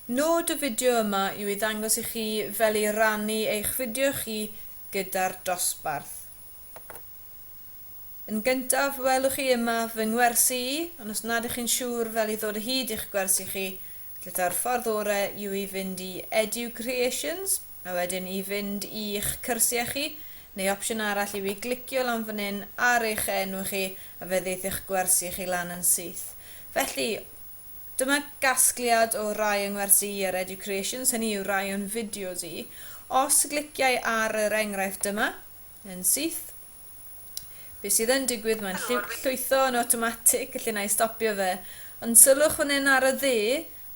Nod y fideo yma yw i ddangos i chi fel i rannu eich fideo chi gyda'r dosbarth. Yn gyntaf, welwch chi yma fy ngwersi i, ond os nad ych chi'n siŵr fel i ddod o hyd i'ch gwersi chi, felly taw'r ffordd orau yw i fynd i EduCreations a wedyn i fynd i'ch cyrsiau chi, neu opsiwn arall yw i glicio lan fan hyn ar eich enw chi a fe ddeith eich gwersi chi lan yn syth. Felly, Dyma gasgliad o rai yng ngwersi i ar Educreations, hynny yw rai o'n fideos i. Os gliciai ar yr enghraifft yma, yn syth, be sydd yn digwydd, mae'n llwytho yn awtomatig, felly na i stopio fe. Ond sylwch fan hyn ar y ddu,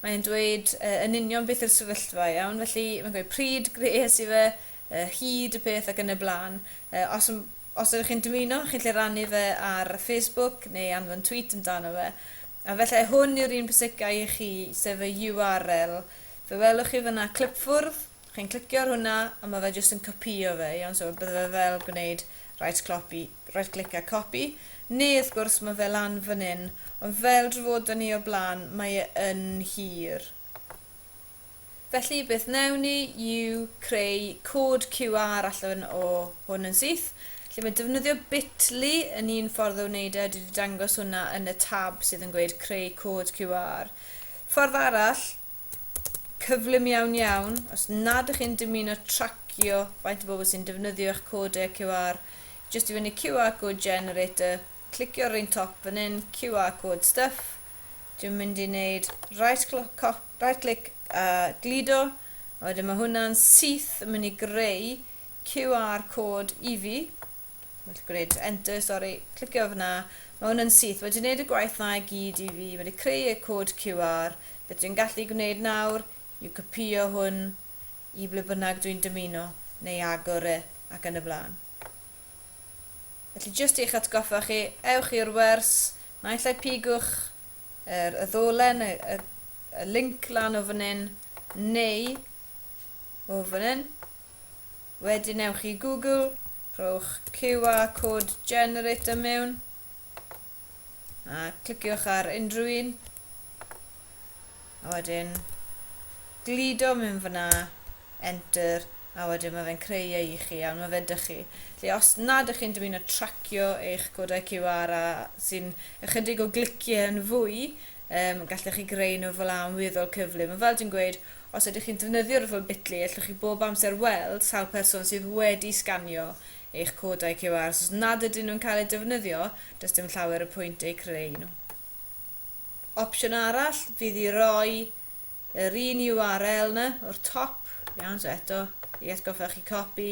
mae'n dweud yn union beth yw'r sefyllfa, iawn? Felly, mae'n gweud pryd gwnes i fe, yy hyd y peth ac yn y blaen. Yy os yn os ydych chi'n dymuno, chi'n lle rannu fe ar Facebook neu anfon tweet amdano fe. A fellai hwn yw'r un pwysicaf i chi, sef y URL. Fe welwch chi fyna clipfwrdd, chi'n clicio ar hwnna a mae fe jyst yn copïo fe, iawn, so bydde fe fel gwneud right clopi, right click a copy, neu wrth gwrs mae fe lan fan hyn, ond fel drafodon ni o'r blaen mae e yn hir. Felly beth wnewn ni yw creu cod QR allan o hwn yn syth. Felly mae defnyddio Bitly yn un ffordd o wneud e, dwi 'di dangos hwnna yn y tab sydd yn gweud creu cod QR. Ffordd arall cyflym iawn iawn, os nad ych chi'n dymuno tracio faint o bobl sy'n defnyddio eich codau QR, jyst i fyny QR code generator, clicio ar yr un top fan hyn, QR code stuff, dwi'n mynd i wneud right clock Right click a gludo, a wedyn mae hwnna'n syth yn mynd i greu QR cod i fi. Well gwneud enter, sori, clicio fyna, mae hwnna'n syth, wedi gwneud y gwaith na i gyd i fi, wedi creu y cod QR, beth dwi'n gallu gwneud nawr yw copio hwn i ble bynnag dwi'n dymuno, neu agor e, ac yn y blaen. Felly jyst i'ch atgoffa chi, ewch i'r wers, naill ai pigwch yr y ddolen, y, y, y link lan o fan hyn, neu o fan hyn. Wedyn ewch i Google, rhowch QR code generator mewn. A cliciwch ar unrhyw un. A wedyn gludo mewn fyna, enter, a wedyn mae fe'n creu e i chi, ond mae fe dych chi. Felly os nad ych chi'n dymuno tracio eich codau QR a sy'n ychydig o gliciau yn fwy, um, gallech chi greu nhw fel am weddol cyflym. Mae fel dwi'n gweud, os ydych chi'n defnyddio'r fel bitly, allwch chi bob amser weld sawl person sydd wedi sganio eich codau QR os nad ydyn nhw'n cael eu defnyddio, does dim llawer o pwynt eu creu nhw. Opsiwn arall fydd i roi yr un URL 'na o'r top, iawn, so eto, i atgoffa chi copi,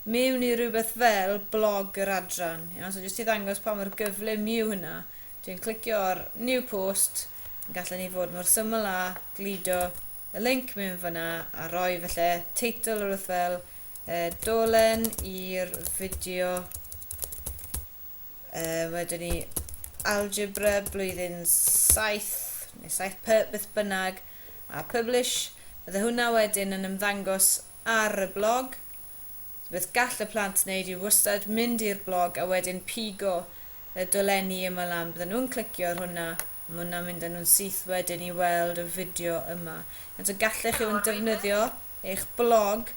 mewn i rywbeth fel blog yr adran, iawn, so jyst i ddangos pa mor gyflym yw hynna, dwi'n clicio ar New Post, gallen ni fod mor syml â gludo y linc mewn fanna a rhoi falle teitl rhywbeth fel e, dolen i'r fideo e, wedyn ni algebra blwyddyn 7 neu 7 py beth bynnag a publish bydde hwnna wedyn yn ymddangos ar y blog so beth gall y plant wneud yw wastad mynd i'r blog a wedyn pigo y dolenni yma lan bydden nhw'n clicio ar hwnna mae hwnna'n mynd â nhw'n syth wedyn i weld y fideo yma eto gallech chi hwn defnyddio eich blog,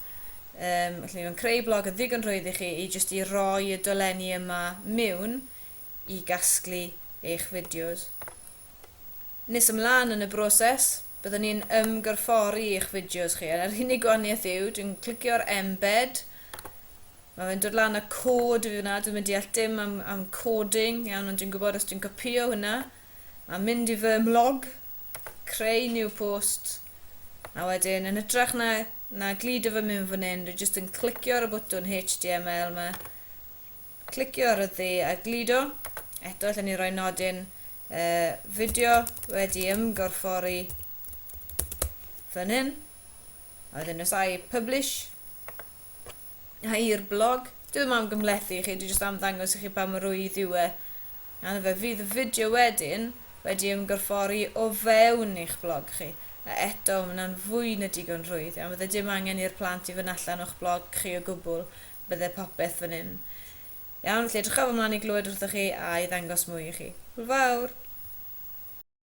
yym, felly mae'n creu blog yn ddigon rhwydd i chi i jyst i roi y dolenni yma miwn i gasglu eich fideos. Nes ymlaen yn y broses, byddwn ni'n ymgorffori eich fideos chi, a'r unig gwahaniaeth yw, dwi'n clicio'r embed, mae fe'n dod lan â cod i fi fyna, dwi'n mynd deall dim am, am coding, iawn, ond dwi'n gwybod os dwi'n copio hwnna, a mynd i fy mhlog, creu new post, a wedyn yn hytrach na, na gludo fy myn fan hyn, dwi jyst yn clicio ar y bwtwn HTML yma, clicio ar y ddu a gludo. Eto, allan ni roi nodyn uh, fideo wedi ymgorffori fan hyn. A wedyn os i publish, Hi i'r blog. Dwi ddim am gymhlethu i chi, dwi jyst am ddangos i chi pa mor rwydd yw e. A fe fydd y fideo wedyn wedi ymgorffori o fewn eich blog chi. A eto, mae hwnna'n fwy na digon rhwydd. A fydde dim angen i'r plant i fynd allan o'ch blog chi o gwbl, bydde popeth fan hyn. Iawn, felly edrychaf ymlaen i glywed wrthoch chi a i ddangos mwy i chi. Hwyl fawr!